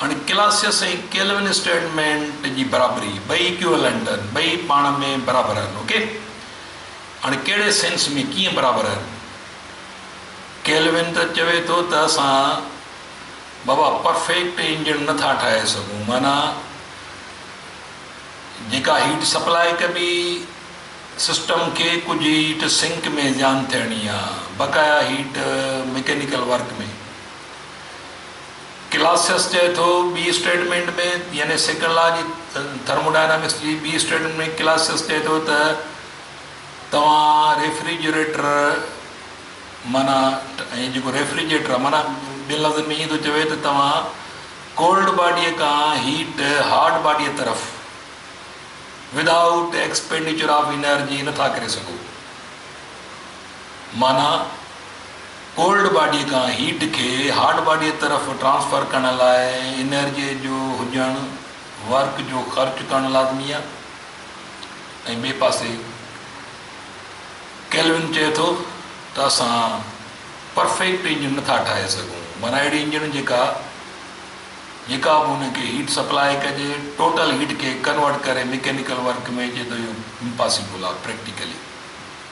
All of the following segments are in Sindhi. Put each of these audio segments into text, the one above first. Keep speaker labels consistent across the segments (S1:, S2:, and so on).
S1: هاڻي ڪلاسيس ۽ ڪيلوين اسٽيٽمينٽ جي برابري، ٻئي اڪيوئلنٽ آهن، ٻئي پاڻ ۾ برابر آهن. اوڪي. هاڻي ڪهڙي سينس ۾ ڪيئن برابر آهن؟ ڪيلوين ته چوي ٿو ته اسان بابا پرفيڪٽ انجڻ نه ٿا ٺاهي سگهون، معنيٰ جيڪا هيٽ سپلاء ڪبي، سسٽم کي ڪجهه هيٽ سنڪ ۾ زيان ٿيڻي آهي، بقايا هيٽ مڪينيڪل ورڪ ۾. ڪلاسيس چئي ٿو، ٻي اسٽيٽمينٽ ۾ يعني سيڪنڊ لا جي ٿرموڊائنامڪس جي ٻي اسٽيٽمينٽ ۾ ڪلاسيس چئي ٿو ته توهان ريفريجريٽر معنيٰ ۽ جيڪو ريفريجريٽر آهي معنيٰ ٻين لفظن ۾ ائين ٿو چوي ته توهان ڪولڊ باڊيء کان هيٽ هاٽ باڊيء طرف Without Expenditure of Energy نٿا ڪري سگهو. معنيٰ ڪولڊ باڊي کان هيٽ کي هاٽ باڊي طرف ٽرانسفر ڪرڻ لاء انرجي جو هجڻ ورڪ جو خرچ ڪرڻ لازمي آهي ۽ ٻئي پاسي ڪيلون چئي ٿو ته اسان پرفيڪٽ انجڻ نٿا ٺاهي سگهون معنيٰ اهڙي انجڻ جيڪا جيڪا به ان کي هيٽ سپلاء ڪجي ٽوٽل هيٽ کي ڪنورٽ ڪري ميڪينيڪل ورڪ ۾ اچي ٿو اهو امپاسيبل آهي پريڪٽيڪلي.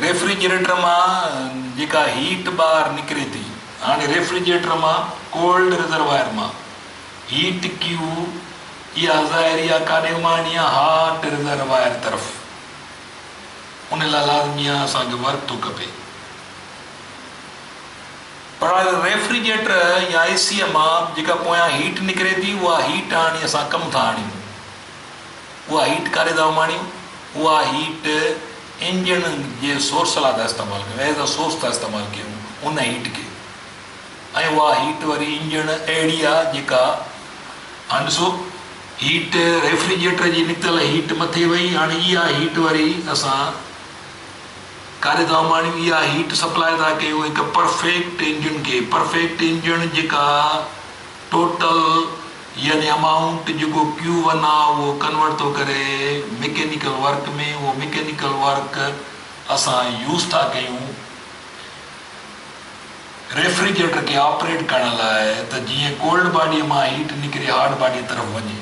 S1: ريفريجريٽر مان جيڪا هيٽ ٻاهر نڪري ٿي هاڻي ريفريجريٽر مان ڪولڊ ريزرواير مان هيٽ ڪيو اها ظاهري آ ڪاڏي اماڻڻي آ هاٽ ريزرواير طرف ان لاء لازمي آ اسان کي ورڪ ٿو کپي پر هاڻي ريفريجريٽر يا اي سي مان جيڪا پويان هيٽ نڪري ٿي اها هيٽ هاڻي اسان ڪم ٿا آڻيون. اها هيٽ ڪاري ٿا اماڻيون، اها هيٽ انجڻ جي سورس لاء ٿا استعمال ڪيون، As a source ٿا استعمال ڪيون ان هيٽ کي ۽ اها هيٽ وري انجڻ اهڙي آهي جيڪا هاڻ ڏسو هيٽ ريفريجريٽر جي نڪتل هيٽ مٿي وئي هاڻ اها هيٽ وري اسان ڪاري ٿا اماڻيون، اها هيٽ سپلاء ٿا ڪيون هڪ پرفيڪٽ انجڻ کي، پرفيڪٽ انجڻ جيڪا ٽوٽل يعني امائونٽ جيڪو ڪيو ون آ اهو ڪنورٽ ٿو ڪري مڪينيڪل ورڪ ۾ اهو مڪينيڪل ورڪ اسان يوز ٿا ڪيون ريفريجريٽر کي آپريٽ ڪرڻ لاء ته جيئن ڪولڊ باڊي مان هيٽ نڪري هاٽ باڊي طرف وڃي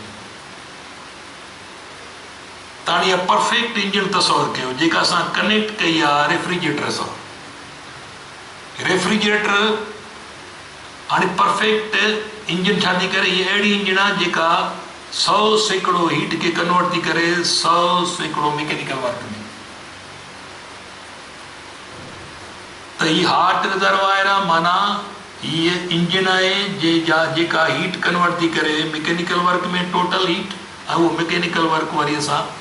S1: تاڻي اها پرفيڪٽ انجڻ تصور ڪيو جيڪا اسان ڪنيڪٽ ڪئي آ ريفريجريٽر سان ريفريجريٽر هاڻي پرفيڪٽ انجڻ ڇا ٿي ڪري؟ هيء اهڙي انجڻ آهي جيڪا سؤ سيڪڙو هيٽ کي ڪنورٽ ٿي ڪري سؤ سيڪڙو ميڪينيڪل ورڪ ۾ ته هي هاٽ رزروائر آهي معنيٰ هيء انجڻ آهي جيڪا هيٽ ڪنورٽ ٿي ڪري ميڪينيڪل ورڪ ۾ ٽوٽل هيٽ ۽ اهو ميڪينيڪل ورڪ وري اسان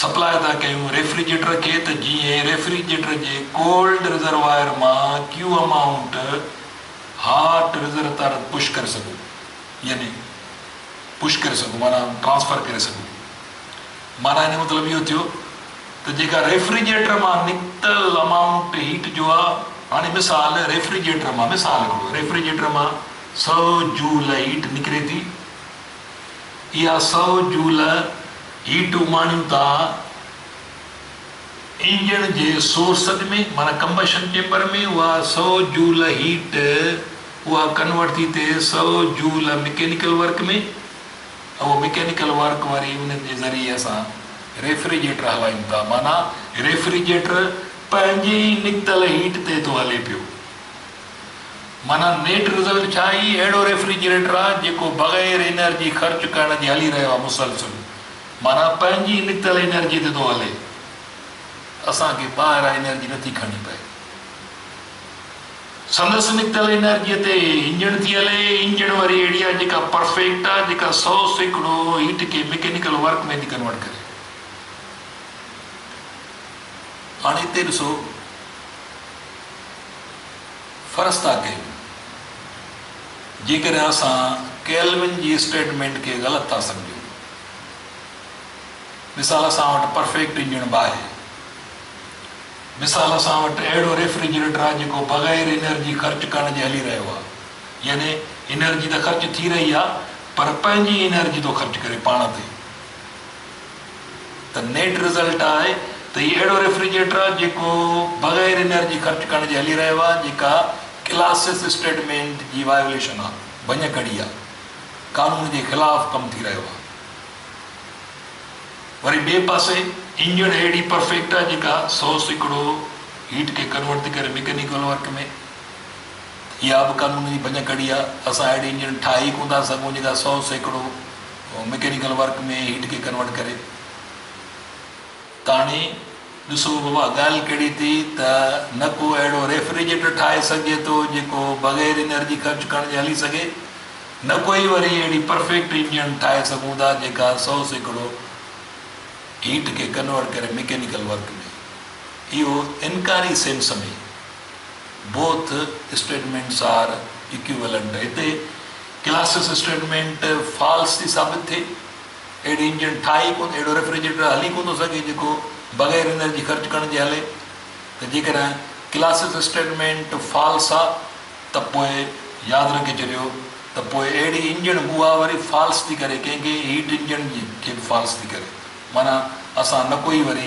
S1: سپلاء ادا ڪيون ريفريجريٽر کي ته جيئن ريفريجريٽر جي ڪولڊ رزرواير مان ڪيو amount hot reservoir push ڪري سگهو يعني پش ڪري سگهو معنيٰ ٽرانسفر ڪري سگهو معنيٰ ان جو مطلب اهو ٿيو ته جيڪا ريفريجريٽر مان نڪتل امائونٽ هيٽ جو آ هاڻي مثال ريفريجريٽر مان مثال هڪڙو ريفريجريٽر مان سؤ جول هيٽ نڪري ٿي اها سؤ جول هيٽ اماڻيون ٿا انجڻ جي سورسز ۾، معنيٰ ڪمبشن چيمبر ۾، اها سؤ جول هيٽ اها ڪنورٽ ٿي ٿئي سؤ جول مڪينيڪل ورڪ ۾، ۽ اهو مڪينيڪل ورڪ وري انهن جي ذريعي اسان ريفريجريٽر هلايون ٿا، معنيٰ ريفريجريٽر پنهنجي ئي نڪتل هيٽ تي ٿو هلي پيو. معنيٰ نيٽ رزلٽ ڇا هي اهڙو ريفريجريٽر آ جيڪو بغير انرجي خرچ ڪرڻ جي هلي رهيو آ مسلسل معنيٰ پنهنجي نڪتل انرجي تي ٿو هلي اسان کي ٻاهران انرجي نٿي کڻڻي پئي سندس نڪتل انرجي تي انجڻ ٿي هلي انجڻ وري اهڙي آ جيڪا پرفيڪٽ آ جيڪا سو سيڪڙو هيٽ کي مڪينيڪل ورڪ ۾ ٿي ڪنورٽ ڪري هاڻي هتي ڏسو. فرستا ڪيون. جيڪڏهن اسان ڪيلون جي اسٽيٽمينٽ کي غلط ٿا سمجهون. مثال اسان وٽ پرفيڪٽ انجڻ به آهي. مثال اسان وٽ اهڙو ريفريجريٽر آهي جيڪو بغير انرجي خرچ ڪرڻ جي هلي رهيو آهي. يعني انرجي ته خرچ ٿي رهي آهي پر پنهنجي انرجي ٿو خرچ ڪري پاڻ تي. ته نيٽ رزلٽ آهي ته هي اهڙو ريفريجريٽر آهي جيڪو بغير انرجي خرچ ڪرڻ جي هلي رهيو آهي جيڪا ڪلاسس اسٽيٽمينٽ جي وايوليشن آهي ڀڃ ڪڙي آهي قانون جي خلاف ڪم ٿي رهيو آهي وري ٻئي پاسي انجڻ اهڙي پرفيڪٽ آهي جيڪا سو سيڪڙو هيٽ کي ڪنورٽ ٿي ڪري ميڪينيڪل ورڪ ۾ اها به قانون جي ڀڃ ڪڙي آهي اسان اهڙي انجڻ ٺاهي ئي ڪونه ٿا سگهون جيڪا سو سيڪڙو ميڪينيڪل ورڪ ۾ هيٽ کي ڪنورٽ ڪري ڪهاڻي ڏسو بابا ڳالهه ڪهڙي ٿي ته نه ڪو اهڙو ريفريجريٽر ٺاهي سگهجي ٿو جيڪو بغير انرجي خرچ ڪرڻ جي هلي سگهي نه ڪو ئي وري اهڙي پرفيڪٽ انجڻ ٺاهي سگهون ٿا جيڪا سو سيڪڙو هيٽ کي ڪنورٽ ڪري ميڪينيڪل ورڪ ۾ اهو انڪاري sense ۾ both statements are equivalent هتي ڪلاسس اسٽيٽمينٽ فالس ٿي ثابت ٿئي، اهڙي انجڻ ٺاهي ئي ڪونه، اهڙو ريفريجريٽر هلي ڪونه ٿو سگهي جيڪو بغير انرجي خرچ ڪرڻ جي هلي، ته جيڪڏهن ڪلاسس اسٽيٽمينٽ فالس آ ته پوء ياد رکي ڇڏيو ته پوء اهڙي انجڻ اها وري فالس ٿي ڪري ڪنهن ڪنهن هيٽ انجڻ کي به فالس ٿي ڪري معنيٰ اسان نڪو ئي وري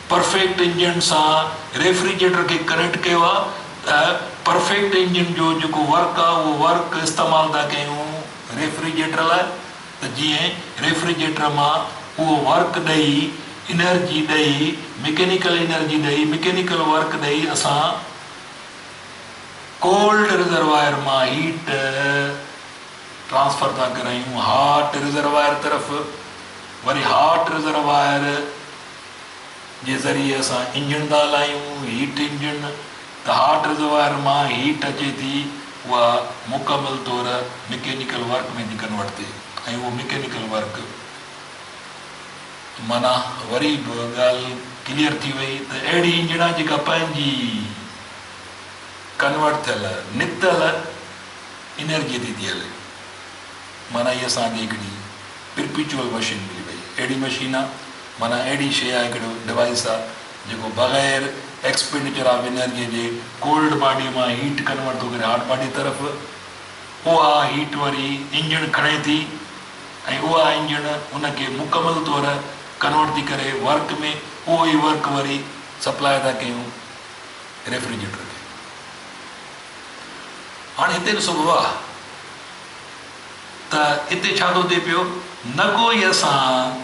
S1: پرفيڪٽ انجڻ سان ريفريجريٽر کي ڪنيڪٽ ڪيو آ ته پرفيڪٽ انجڻ جو جيڪو ورڪ آ اهو ورڪ استعمال ٿا ڪيون ريفريجريٽر لاء ته جيئن ريفريجريٽر مان اهو ورڪ ڏئي انرجي ڏئي مڪينيڪل انرجي ڏئي مڪينيڪل ورڪ ڏئي اسان ڪولڊ رزرواير مان هيٽ ٽرانسفر ٿا ڪرايون هاٽ رزرواير طرف وري هاٽ رزرواير جي ذريعي اسان انجڻ ٿا هلايون، هيٽ انجڻ، ته هاٽ رزروائر مان هيٽ اچي ٿي اها مڪمل طور مڪينيڪل ورڪ ۾ ٿي ڪنورٽ ٿئي ۽ اهو مڪينيڪل ورڪ معنيٰ وري به ڳالهه ڪليئر ٿي وئي ته اهڙي انجڻ آهي جيڪا پنهنجي ڪنورٽ ٿيل نڪتل انرجي تي ٿي هلي معنيٰ هي اسان کي هڪڙي پرپيچوئل مشين ملي وئي اهڙي مشين معنيٰ اهڙي شيء آهي ڪهڙو ڊوائيس آهي جيڪو بغير ايڪسپينڊيچر آف انرجي جي ڪولڊ باڊي مان هيٽ ڪنورٽ ٿو ڪري هاٽ باڊي طرف اها هيٽ وري انجڻ کڻي ٿي ۽ اها انجڻ ان کي مڪمل طور ڪنورٽ ٿي ڪري ورڪ ۾ اهو ئي ورڪ وري سپلاء ٿا ڪيون ريفريجريٽر کي هاڻي هتي ڏسو بابا ته هتي ڇا ٿو ٿئي پيو نه ڪو ئي اسان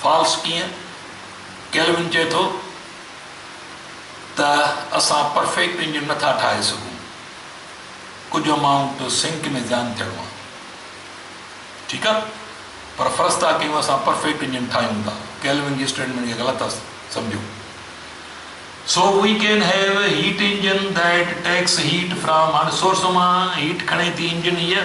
S1: فالس ڪيئن؟ ڪيلون چئي ٿو ته اسان پرفيڪٽ انجن نٿا ٺاهي سگهون، ڪجهه امائونٽ سنڪ ۾ زيان ٿيڻو آهي. ٺيڪ آهي پر فرض ٿا ڪيون اسان پرفيڪٽ انجن ٺاهيون ٿا. ڪيلون جي اسٽيٽمينٽ کي غلط ٿا سمجهون. So we can have a heat engine that takes heat from هاڻي سورس مان هيٽ کڻي ٿي انجن هيء.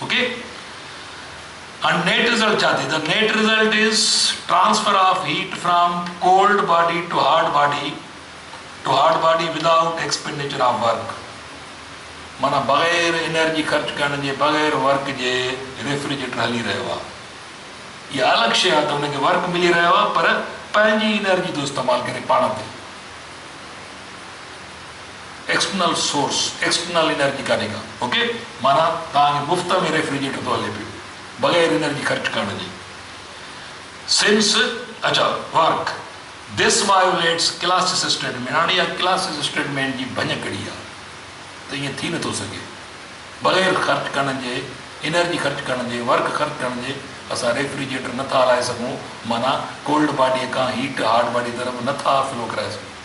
S1: اوڪي ھاڻ نيٽ رزلٽ ڇا ٿي ته net result is transfer of heat from cold body to hot body to hot body without expenditure of work معنيٰ بغير انرجي خرچ ڪرڻ جي بغير ورڪ جي ريفريجريٽر ھلي رھيو آ اھا الڳ شي آ ته ان کي ورڪ ملي رھيو آ پر پنھنجي انرجي ٿو استعمال ڪري پاڻ تي. ايڪسٽرنل سورس، ايڪسٽرنل انرجي ڪانهي ڪا. اوڪي. معنيٰ توهان کي مفت ۾ ريفريجريٽر ٿو هلي پيو بغير انرجي خرچ ڪرڻ جي. سنس اچا work this violates Clausius statement هاڻي اها ڪلاسس اسٽيٽمينٽ جي ڀڃ ڪڙي آهي ته ائين ٿي نٿو سگهي بغير خرچ ڪرڻ جي انرجي خرچ ڪرڻ جي ورڪ خرچ ڪرڻ جي اسان ريفريجريٽر نٿا هلائي سگهون معنيٰ ڪولڊ باڊي کان هيٽ هاٽ باڊي طرف نٿا فلو ڪرائي سگهون.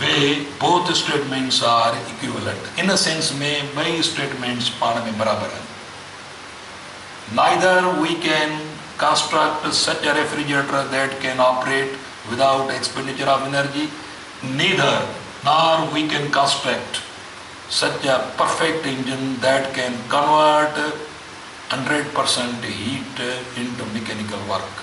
S1: We both statements are equivalent in sense ۾ ٻئي اسٽيٽمينٽس پاڻ ۾ برابر آهن. نائيڌر V can construct such a refrigerator that can operate without expenditure of energy neither nor we can construct such a perfect engine that can convert hundred percent heat into mechanical work.